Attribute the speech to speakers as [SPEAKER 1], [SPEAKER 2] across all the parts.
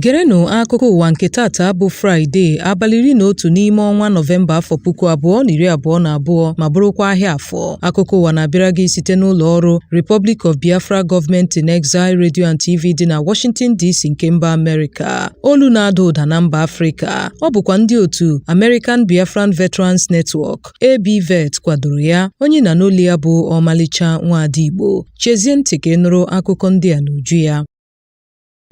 [SPEAKER 1] Gerenụ akụkọ ụwa nke tata bụ Fraịde abalị iri na otu n'ime ọnwa Nọvemba afọ puku abụọ na iri abụọ na abụọ ma bụrụkwa ahịa afọ. Akụkọ ụwa na-abịara gị site n'ụlọ ọrụ Republic of Biafra Government in Exile Radio and TV dị na Washington DC nke mba Amerịka. Olu na-ada ụda na mba Afrịka. ọ bụkwa ndị otu American Biafran Veterans Network ABVET kwadoro ya onye na n'olu ya bụ ọmalịcha nwaada Igbo chezie ntị ka ị nụrụ akụkọ ndị a n'uju ya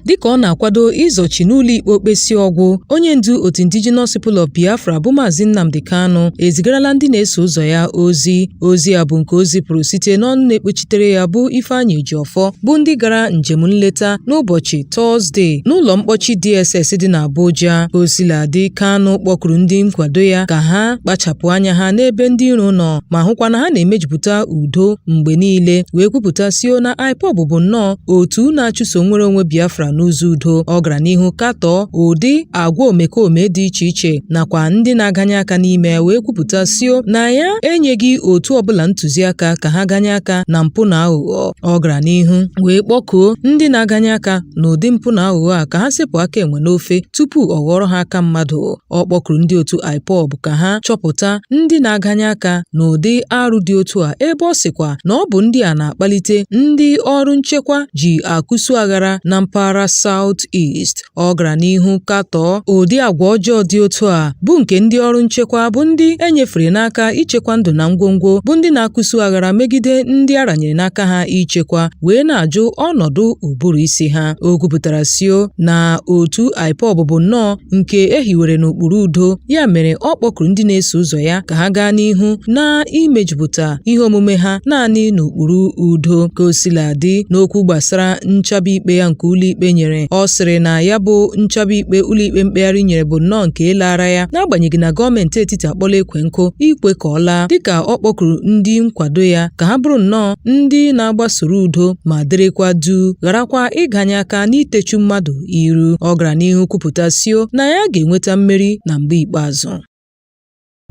[SPEAKER 1] dịka ọ na-akwado ịzọchi n'ụlọikpe okpesi ọgwụ onye ndu otu indigenous people of biafra bụ maazị nnamdi kanu ezigarala ndị na-eso ụzọ ya ozi ozi a bụ nke o zipụrụ site n'ọnụ na-ekpechitere ya bụ ifeanyị ejiọfọ bụ ndị gara njem nleta n'ụbọchị Tọzdee n'ụlọ mkpọchi DSS dị n'Abuja. Ka o sila dị, Kanu kpọkuru ndị nkwado ya ka ha kpachapụ anya ha n'ebe ndị iro nọ ma hụkwa na ha na-emejupụta udo mgbe niile wee kwupụta sio na IPOB bụ nnọọ otu na-achụso nwere onwe Biafra n'ụzọ udo. Ọ gara n'ihu katọọ ụdị agwa omekome dị iche iche nakwa ndị na-aganye aka n'ime ya wee kwupụta sio na ya enyeghị otu ọbụla ntụziaka ka ha ganye aka na mpụ na aghụghọ. Ọ gara n'ihu wee kpọkuo ndị na-aganye aka n'ụdị mpụ na aghụghọ a ka ha sepụ aka enwe n'ofe tupu ọ ghọrọ ha aka mmadụ. Ọ kpọkuru ndị otu IPOB ka ha chọpụta ndị na-aganye aka n'ụdị arụ dị otu a ebe ọ sịkwa na ọ bụ ndị a na-akpalite ndị ọrụ nchekwa ji akụsu aghara na mpaghara South East. ọ gara n'ihu katọọ ụdị agwa ọjọọ dị otu a bụ nke ndị ọrụ nchekwa bụ ndị e nyefere n'aka ichekwa ndụ na ngwongwo bụ ndị na-akụsu aghara megide ndị a ranyere n'aka ha ichekwa wee na-ajụ ọnọdụ ụbụrụ isi ha o kwupụtara sio na otu IPOB bụ nnọọ nke e hiwere n'ụkpụrụ udo ya mere ọ kpọkuru ndị na-eso ụzọ ya ka ha gaa n'ihu n'imejupụta ihe omume ha naanị n'ụkpụrụ udo ka o sila dị n'okwu gbasara nchaba ikpe ya nke ụlọikpe nyere ọ sịrị na ya bụ nchaba ikpe ụlọikpe mkpegharị nyere bụ nnọọ nke laara ya n'agbanyeghị na gọọmenti etiti akpọla ekwe nkụ ikwe ka ọ laa dịka ọ kpọkuru ndị nkwado ya ka ha bụrụ nnọọ ndị na-agbasoro udo ma dịrịkwa duu gharakwa ịganye aka n'itechu mmadụ iru ọ gara n'ihu kwupụta sio na ya ga-enweta mmeri na mgbe ikpeazụ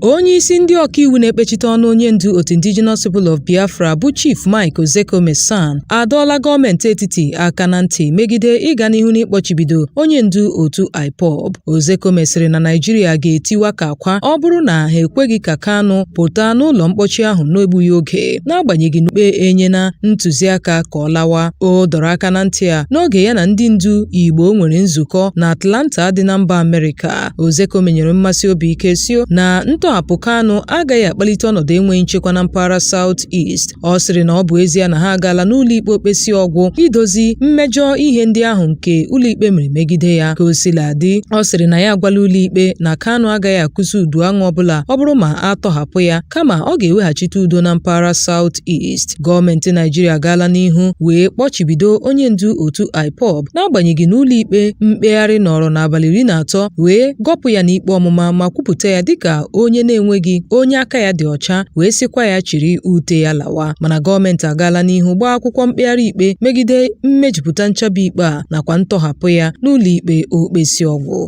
[SPEAKER 1] Onye isi ndị ọkaiwu na-ekpechite ọnụ onye ndu otu Indigenous People of Biafra bụ Chief Mike Ozekhome SAN adọọla gọọmenti etiti aka na ntị megide ịga n'ihu n'ịkpọchibido onye ndu otu IPOB. Ozekhome sịrị na Naịjirịa ga-etiwa ka akwa ọ bụrụ na ha ekweghị ka Kanu pụta n'ụlọ mkpọchi ahụ n'egbughị oge n'agbanyeghị n'ụlọikpe enyena ntụziaka ka ọ lawa. O dọrọ aka na ntị a n'oge ya na ndị ndu Igbo nwere nzukọ na Atlanta dị na mba Amerịka. Ozekhome nyere mmasị obi ike sio na ntọhapụ Kanu agaghị akpalite ọnọdụ enweghị nchekwa na mpaghara South East. Ọ sịrị na ọ bụ ezie na ha agaala n'ụlọikpe okpesi ọgwụ idozi mmejọ ihe ndị ahụ nke ụlọikpe mere megide ya. Ka o sila dị, ọ sịrị na ya agwala ụlọikpe na Kanu agaghị akụzi udu aṅụ ọbụla ọ bụrụ ma a tọhapụ ya kama ọ ga-eweghachite udo na mpaghara South East. Gọọmenti Naịjirịa agaala n'ihu wee kpọchibido onye ndu otu IPOB n'agbanyeghị na ụlọikpe mkpegharị nọrọ n'abalị iri na atọ wee gọpụ ya n'ikpe ọmụma ma kwupụta ya dịka onye na-enweghị onye aka ya dị ọcha wee sịkwa ya chịrị ute ya lawa mana gọọmenti agaala n'ihu gbaa akwụkwọ mkpegharị ikpe megide mmejupụta nchabi ikpe a nakwa ntọhapụ ya n'ụlọikpe okpesi ọgwụ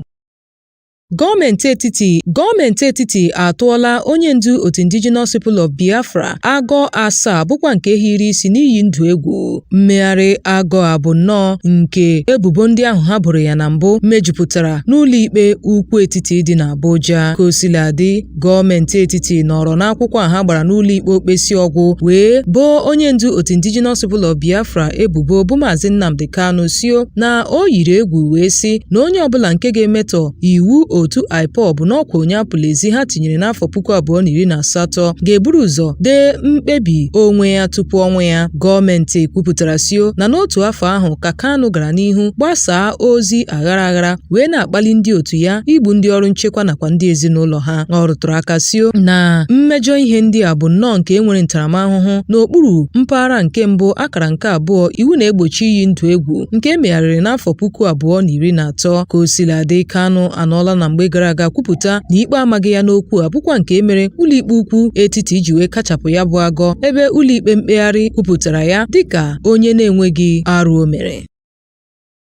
[SPEAKER 1] Gọọmenti etiti atụọla onye ndu otu Indigenous People of Biafra agọ asaa bụkwa nke hiri isi n'iyi ndụ egwu. Mmegharị agọ a bụ nnọọ nke ebubo ndị ahụ ha boro ya na mbụ mejupụtara n'ụlọikpe ukwu etiti dị n'Abuja. Ka o sila dị, gọọmenti etiti nọrọ n'akwụkwọ a ha gbara n'ụlọikpe okpesi ọgwụ wee boo onye ndu otu indigenous people of biafra ebubo bụ maazị nnamdi kanu sio na o yiri egwu wee sị na onye ọbụla nke ga-emetọ iwu otu ipob n'ọkwa onye apụla ezi ha tinyere n'afọ puku abụọ na iri na asatọ ga-eburu ụzọ dee mkpebi onwe ya tupu ọnwụ ya gọọmenti kwupụtara sio na n'otu afọ ahụ ka kanu gara n'ihu gbasaa ozi aghara aghara wee na-akpali ndị otu ya igbu ndị ọrụ nchekwa nakwa ndị ezinụlọ ha ọ rụtụrụ aka sio na mmejọ ihe ndị a bụ nnọọ nke e nwere ntaramahụhụ n'okpuru mpaghara nke mbụ akara nke abụọ iwu na-egbochi iyi ndụ egwu nke e megharịrị n'afọ puku abụọ na iri na atọ ka o sila dị Kanu anọọla na mgbe gara aga kwupụta na ikpe amaghị ya n'okwu a bụkwa nke mere ụlọikpe ukwu etiti iji wee kachapụ ya bụ agọ ebe ụlọikpe mkpegharị kwupụtara ya dịka onye na-enweghị arụ o mere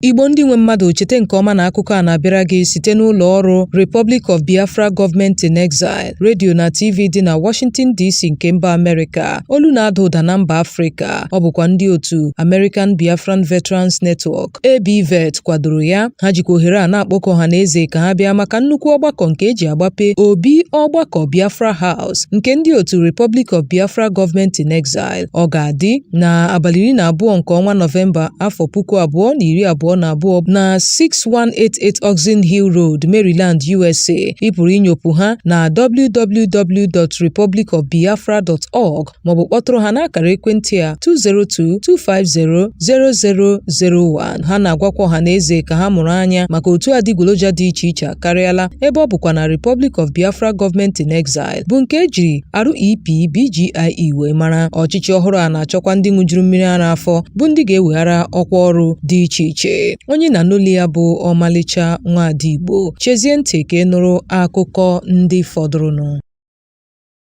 [SPEAKER 1] Igbo ndị nwe mmadụ chete nke ọma na akụkọ a na-abịara gị site n'ụlọ ọrụ Republic of Biafra Government in Exile redio na TV dị na Washington DC nke mba Amerịka olu na-ada ụda na mba Afrịka ọ bụkwa ndị otu American Biafran Veterans Network ABVET kwadoro ya ha jikwa ohere a na-akpọkọ ọha na eze ka ha bịa maka nnukwu ọgbakọ nke e ji agbape obi ọgbakọ Biafra House nke ndị otu Republic of Biafra Government in Exile Ọ ga-adị na abalị iri na abụọ nke ọnwa Nọvemba afọ puku abụọ na iri abụọ na abụọ na 6188 Oxon Hill Road, Maryland, USA. Ị pụrụ inyopụ ha na www.republicofbiafra.org maọbụ kpọtụrụ ha n'akara ekwentị a 202-250-0001. Ha na-agwakwa ọha na eze ka ha mụrụ anya maka otu adịgboloja dị iche iche akarịala ebe ọ bụkwa na Republic of Biafra Government in Exile bụ nke e jiri REP BGIE wee mara ọchịchị ọhụrụ a na-achọkwa ndị ṅụjuru mmiri ara afọ bụ ndị ga-eweghara ọkwa ọrụ dị iche iche onye na-anụ olu ya bụ ọmalịcha nwaada Igbo chezie ntị ka ị nụrụ akụkọ ndị fọdụrụnụ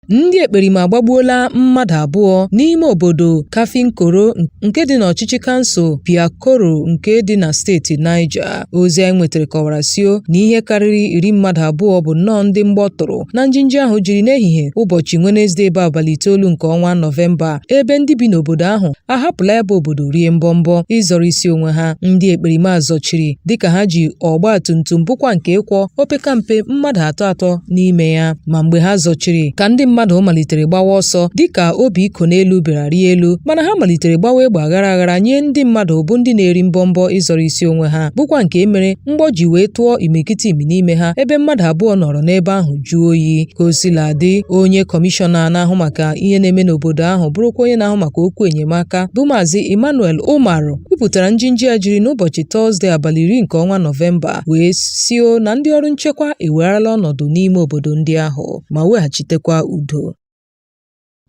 [SPEAKER 1] ndị ekperima agbagbuola mmadụ abụọ n'ime obodo Kafinkoro nke dị n'ọchịchị kansụl Piakoro nke dị na steeti Niger Ozi anyị nwetara kọwara sio na ihe karịrị iri mmadụ abụọ bụ nnọọ ndị mgbọ tụrụ na njinji ahụ jiri n'ehihie ụbọchị Wenezdee bụ abalị itoolu nke ọnwa Nọvemba ebe ndị bi n'obodo ahụ ahapụla ya bụ obodo rie mbọmbọ ịzọrọ isi onwe ha ndị ekperima zọchiri dịka ha ji ọgba tum tum bụkwa nke ịkwọ opekampe mmadụ atọ atọ n'ime ya ma mgbe ha zọchiri ka ndị mmadụ malitere gbawa ọsọ dịka obi iko n'elu bịara rịa elu mana ha malitere gbawa egbe aghara aghara nye ndị mmadụ bụ ndị na-eri mbọmbọ ịzọrọ isi onwe ha bụkwa nke mere mgbọ ji wee tụọ imirikiti imi n'ime ha ebe mmadụ abụọ nọrọ n'ebe ahụ jụọ oyi ka o sila dị onye kọmishọna na-ahụ maka ihe na-eme n'obodo ahụ bụrụkwa onye na-ahụ maka okwu enyemaka bụ maazị Emmanuel Umaru kwupụtara njinji a jiri n'ụbọchị Tọzde abalị iri nke ọnwa Nọvemba wee sio na ndị ọrụ nchekwa ewegharala ọnọdụ n'ime obodo ndị ahụ ma weghachitekwa udo.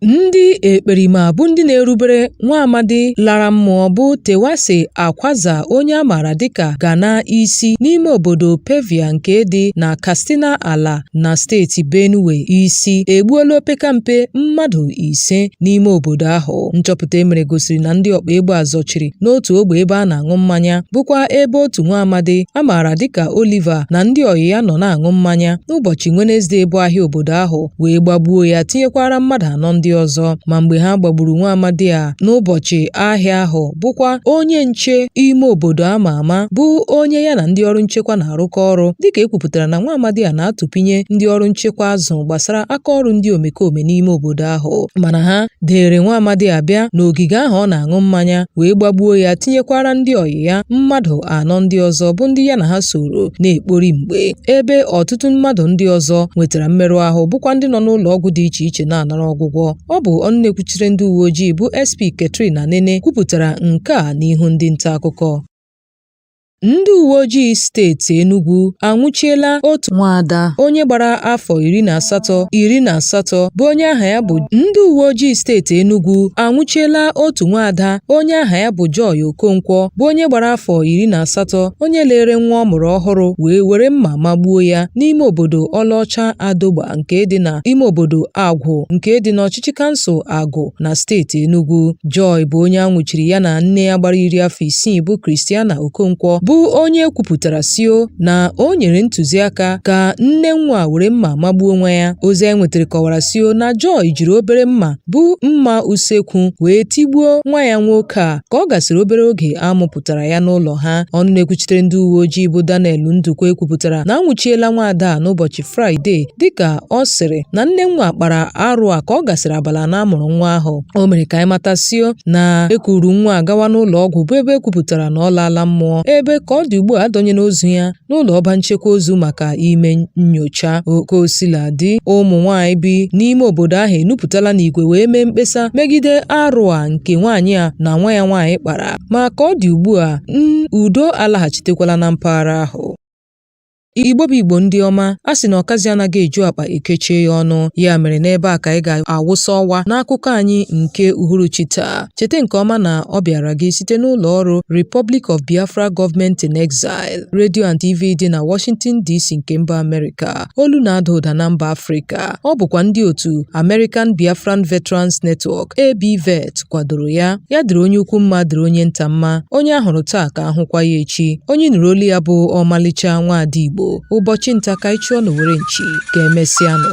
[SPEAKER 1] Ndị ekperima bụ ndị na-erubere nwa amadi lara mmụọ bụ Terwase Akwaza onye a maara dịka Gana isi n'ime obodo Pevia nke dị na Katsina Ala na steeti Benue isi egbuola opekampe mmadụ ise n'ime obodo ahụ nchọpụta e mere gosiri na ndị ọkpa egbe a zọchiri n'otu ogbe ebe a na-aṅụ mmanya bụkwa ebe otu nwa amadi a maara dịka Oliver na ndị ọyị ya nọ na-aṅụ mmanya n'ụbọchị Wenezdee bụ ahịa obodo ahụ wee gbagbuo ya tinyekwara mmadụ anọ ndị ọzọ ma mgbe ha gbagburu nwa amadi a n'ụbọchị ahịa ahụ bụkwa onye nche ime obodo a ma ama bụ onye ya na ndị ọrụ nchekwa na-arụkọ ọrụ dịka e kwupụtara na nwa amadi a na-atụpinye ndị ọrụ nchekwa azụ gbasara aka ọrụ ndị omekome n'ime obodo ahụ mana ha dere nwa amadi a bịa n'ogige ahụ ọ na-aṅụ mmanya wee gbagbuo ya tinyekwara ndị ọyị ya mmadụ anọ ndị ọzọ bụ ndị ya na ha soro na-ekpori mgbe ebe ọtụtụ mmadụ ndị ọzọ nwetara mmerụ ahụ bụkwa ndị nọ n'ụlọ ọgwụ dị iche iche na-anara ọgwụgwọ Ọ bụ ọnụ na-ekwuchiri ndị uwe ojii bụ SP Catherine Anene kwupụtara nke a n'ihu ndị nta akụkọ. Ndị uwe ojii steeti Enugwu anwụchiela otu nwaada onye gbara afọ iri na asatọ bụ onye aha ya bụ ndị uwe ojii steeti Enugwu anwụchiela otu nwaada onye aha ya bụ Joy Okonkwo bụ onye gbara afọ iri na asatọ onye lere nwa ọ mụrụ ọhụrụ wee were mma magbuo ya n'ime obodo Ọlaọcha Adogba nke dị na ime obodo Agwụ nke dị n'ọchịchị kansụl Agwụ na steeti Enugu. Joy bụ onye a nwụchiri ya na nne ya gbara iri afọ isii bụ Christiana Okonkwo bụ onye kwupụtara sio na o nyere ntụziaka ka nne nwa were mma magbuo nwa ya. Ozi anyị nwetara kọwara sio na Joy jiri obere mma bụ mma usekwu wee tigbuo nwa ya nwoke a ka ọ gasịrị obere oge a mụpụtara ya n'ụlọ ha. Ọnụ na-ekwuchitere ndị uwe ojii bụ Daniel Ndukwe kwupụtara na anwụchiela nwaada a n'ụbọchị Fraịde dịka ọ sịrị na nne nwa kpara arụ a ka ọ gasịrị abalị na amụrụ nwa ahụ o mere ka anyị mata sio na ekuru nwa gawa n'ụlọ ọgwụ bụ ebe ekwupụtara na ọ laala mmụọ ebe ka ọ dị ugbu a adọnyela ozu ya n'ụlọ ọba nchekwa ozu maka ime nnyocha ka o sila dị ụmụ nwaanyị bi n'ime obodo ahụ enupụtala n'igwe wee mee mkpesa megide arụ a nke nwaanyị a na nwa ya nwaanyị kpara ma ka ọ dị ugbu a udo alaghachitekwala na mpaghara ahụ Igbo bụ Igbo ndị ọma a sị na ọkazi anaghị eju akpa ekechie ya ọnụ ya mere n'ebe a ka anyị ga-awụsa ọwa n'akụkọ anyị nke uhuruchi taa cheta nke ọma na ọ bịara gị site n'ụlọ ọrụ Republic of Biafra Government in Exile Radio and TV dị na Washington DC nke mba Amerịka olu na-ada ụda na mba Afrịka ọ bụkwa ndị otu American Biafran Veterans Network ABVET kwadoro ya ya dịrị onye ukwu mma dịrị onye nta mma onye a hụrụ taa ka ahụkwa ya echi onye nụrụ olu ya bụ ọmalịcha nwaada igbo ụbọchị nta ka anyị chụọ n'owere nchi ka emesịanụ